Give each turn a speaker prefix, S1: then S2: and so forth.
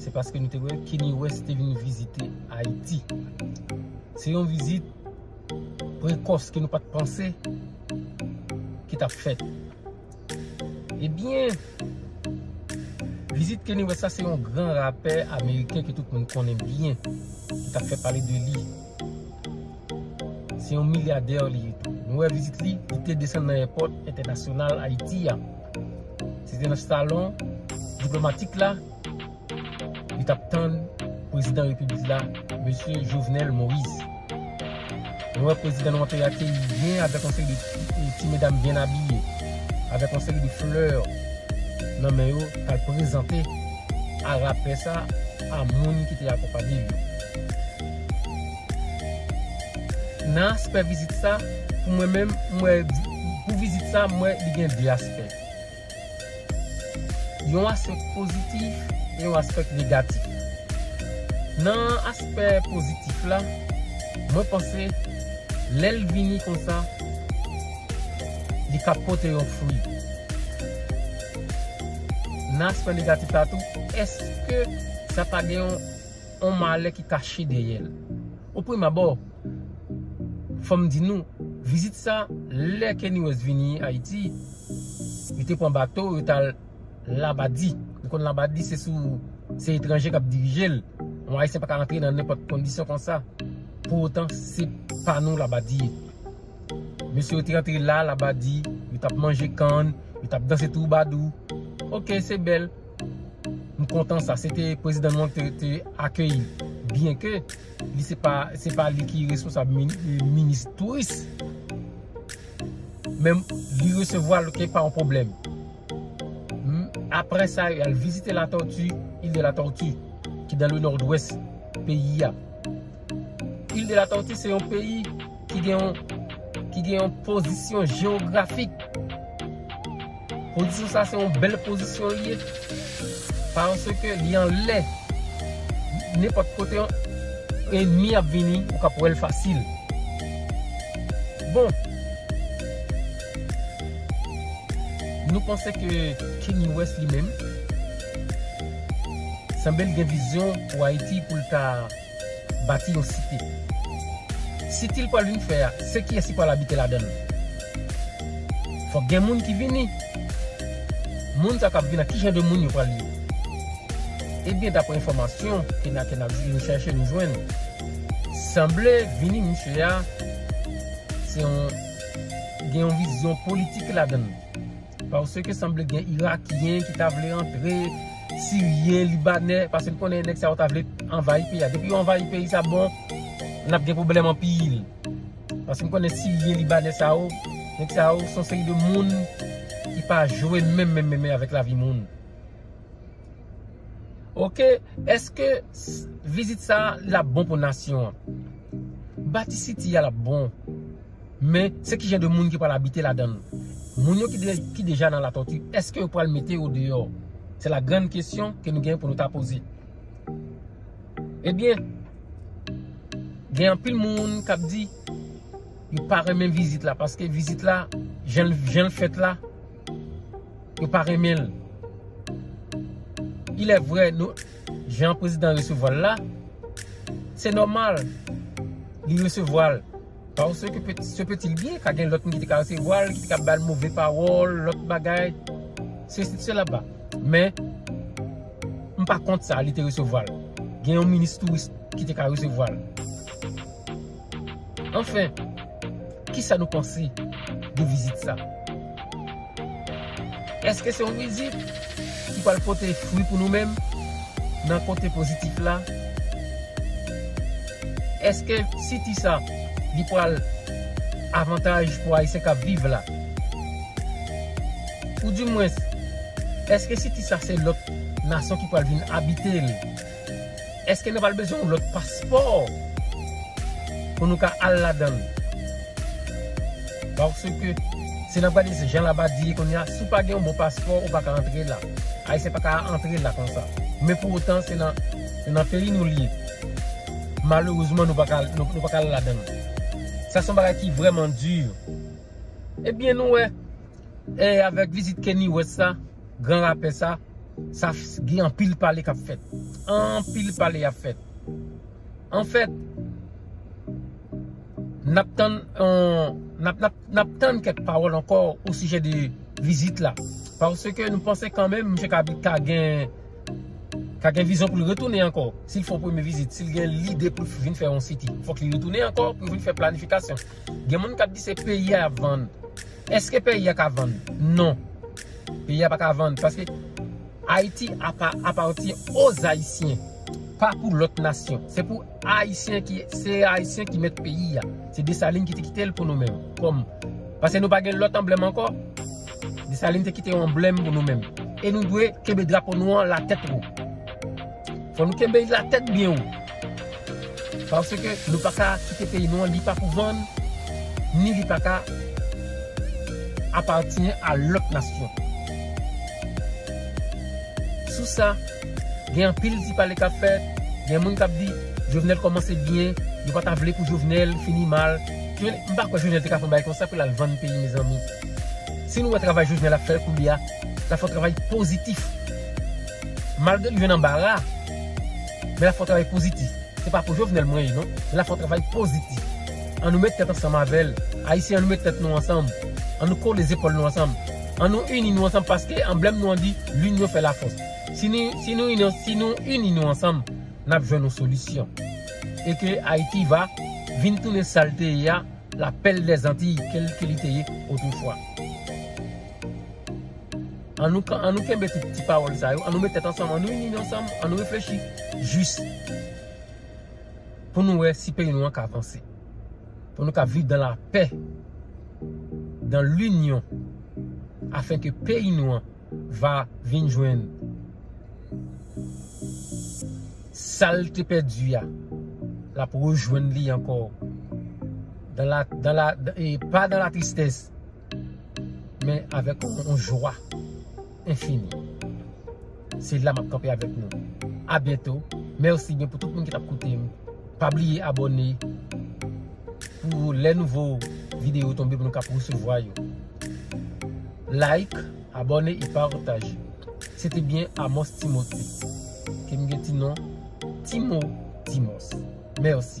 S1: Se paske nou te wè Kenny West te vin vizite Ayiti. Se yon vizit prekòs ke nou pat panse ki t ap fèt. Ebyen, vizit Kenny West la se yon gran rapè ameriken ke tout moun konnen byen, ki t ap fè pale de li. Se yon milyadè li ye tou. Nou wè vizit li, li te desann nan èpòt entènasyonal Ayiti a. Se te nan salon diplomatik la, li t ap tann prezidan repiblik la, mesye Jovenel Moïse. Nou wè prezidan nou an te akeyi l byen avèk yon seri de ti medam byen abiye, avèk yon seri de flè nan men yo, pou l al prezante. a rapè sa a moun ki te akonpanye l yo. Nan aspè vizit sa, pou mwen menm, m wè, pou vizit sa, m wè li gen 2 aspè. Yon aspèk pozitif e yon aspèk negatif. Nan aspè pozitif la, mwen panse lè l vini konsa, li ka pote yon fwi. Nan aspè negatif la tou, èske sa pa gen yon malè ki kache dèyè l? O prim abò, fò m di nou, vizit sa, lè Kanye West vini Ayiti, li te pran bato, yo t al Labadi. Nou konn Labadi se sou, se etranje k ap dirije l. Yon Ayisyen pa ka antre nan nenpòt kondisyon konsa. Pou otan, se pa nou Labadi ye. Mesye yo te antre la, la ba di, yo tap manje kann, yo tap danse twoubadou. Ok, se bèl. M kontan sa. Se te prezidan nou an ki te akeyi m. Byen ke, li se pa, se pa li ki responsab minis touris. Men, li resevwa l ok, pa yon pwoblèm. Aprè sa, y al vizite la Tortue, Ile de la Tortue, ki dan le Nòdwès peyi a. Île de la Tortue se yon peyi ki gen yon ki gen yon pozisyon jewografik. Pozisyon sa se yon bèl pozisyon li ye. Paske li anlè. Nenpòt kote yon enmi ap vini, ou kab wè l fasil. Bon. Nou panse ke Kanye West li menm sanble l gen vizyon pou Ayiti pou l ta bati yon site. Site li pral vin fè a, se kiyès ki pral abite ladan l? Fòk gen moun ki vini. Moun sa k ap vini la, ki jan de moun yo pral ye? Ebyen, daprè enfòmasyon ke n ap chèche, nou jwenn, sanble vini misye a, se yon, gen yon vizyon politik ladan l. Pase ke sanble gen irakyen ki ta vle antre, siryen, libanè, pase nou konnen nèg sa yo ta vle anvayi peyi a. Depi yo anvayi peyi sa bon, n ap gen pwoblèm anpil. Pase nou konnen siryen, libanè sa yo, nèg sa yo son seri de moun ki pa jwe menm menm menm menm avèk lavi moun. Ok, eske vizit sa l ap bon pou nasyon an? Bati siti a l ap bon? Men, se ki jan de moun ki pral abite ladan l? Moun yo ki deja nan Latòti, èske yo pral mete yo deyò? Se la grann kesyon ke nou gen pou nou ta poze. Ebyen, gen anpil moun k ap di, yo pa renmen vizit la, paske vizit la, jan l fèt la, yo pa renmen l. Ilè vre, jan prezidan resevwa l la, se nòmal li resevwa l. Pase ke peti se peti li ye, ka gen lòt moun ki te ka resevwa l, ki te ka ba l move pawòl, lòt bagay, sesi selaba. Men, m pa kont sa, li te resevwa l. Gen yon minis touris ki te ka resevwa l. Anfen, kisa nou panse de vizit sa? Eske se yon mizik ki pral pote fwi pou nou menm nan kote pozitif la? Eske siti sa li pral avantaj pou ayisyen kap viv la? Ou di mwens eske siti sa se lòt nasyon ki pral vin abitel? Eske nou pral bezwen yon lòt paspò pou nou ka al ladann? Paske si nap gade jan labadi ye kounye a, si w pa gen yon bon paspò ou pa ka antre la. Ayisyen pa ka antre la konsa. Men pou otan se nan peyi nou li ye. Malerezman nou pa ka al ladann. Sa son bagay ki vreman di. Ebyen nou wè. E avèk vizit Keny West la, gran rapè sa, sa gen anpil pale k ap fèt. Anpil pale ap fèt. Anfèt, n ap tann n ap tann kèk pawòl ankò osijè de vizit la. Paske nou panse kanmenm misye ka gen ka gen vizyon pou l retounen ankò. Si l fè yon premye vizit, si l gen lide pou l vin fè yon siti, fòk li retounen ankò pou l vin fè planifikasyon. Gen moun kap di se peyi a yap vann. Eske peyi a ka vann? Non. Peyi a pa ka vann. Paske Ayiti apati o zayisyen. Pa pou lot nasyon. Se pou ayisyen ki, se ayisyen ki met peyi a. Se Desalin ki te kitel pou nou menm. Kom. Paske nou pa gen lot anblem anko. Desalin te kite yon anblem pou nou menm. E nou dwe kebe drapo nou an la tet ou. Fon nou kebe la tet byen ou. Paske nou pa ka kite peyi nou an li pa pou vann ni li pa ka apatyen a lòt nasyon. Sou sa, gen anpil ti pale k ap fèt, gen moun k ap di Jovenel kòmanse byen, yo pa ta vle pou Jovenel fini mal. M pa kwè Jovenel te ka fè yon bagay konsa pou l al vann peyi mezanmi. Si nou wè travay Jovenel ap fè koulye a, l ap fè yon travay pozitif. Malgre li jwenn anbara. Men lap fon travay pozitif. Se pa pou Jovenel mwen ye non. Men lap fon travay pozitif. An nou met tèt ansanm avèl. Ayisyen an nou met tèt nou ansanm. An nou kole zepòl nou ansanm. An nou ini nou ansanm paske anblèm nou an di L'union fait la force. Si nou ini nou ansanm nap jwenn yon solisyon. E ke Ayiti va vin tounen sal te ye a, la perle des Antilles ke li te ye otrefwa. An nou kan, an nou kenbe tout ti pawòl sa yo, an nou met tèt ansanm, an nou ini nou ansanm, an nou reflechi jis pou nou wè si peyi nou an ka avanse. Pou nou ka viv dan la pè, dan linyon, afen ke peyi nou an va vin jwenn sa l te pèdi a, l ap rejwenn li ankò, dan la, dan la, e pa dan la tristès. men avèk yon jwa enfini. Se la map kanpe avèk nou. A byento. Merci gen pou tout moun ki tap koute m. Pa bliye abone pou lè nouvo video tonbe pou nou kap resevwa yo. Like, abone e partaje. Se te byen Amos Timothé. Ke m gen ti non Timo Timos. Merci.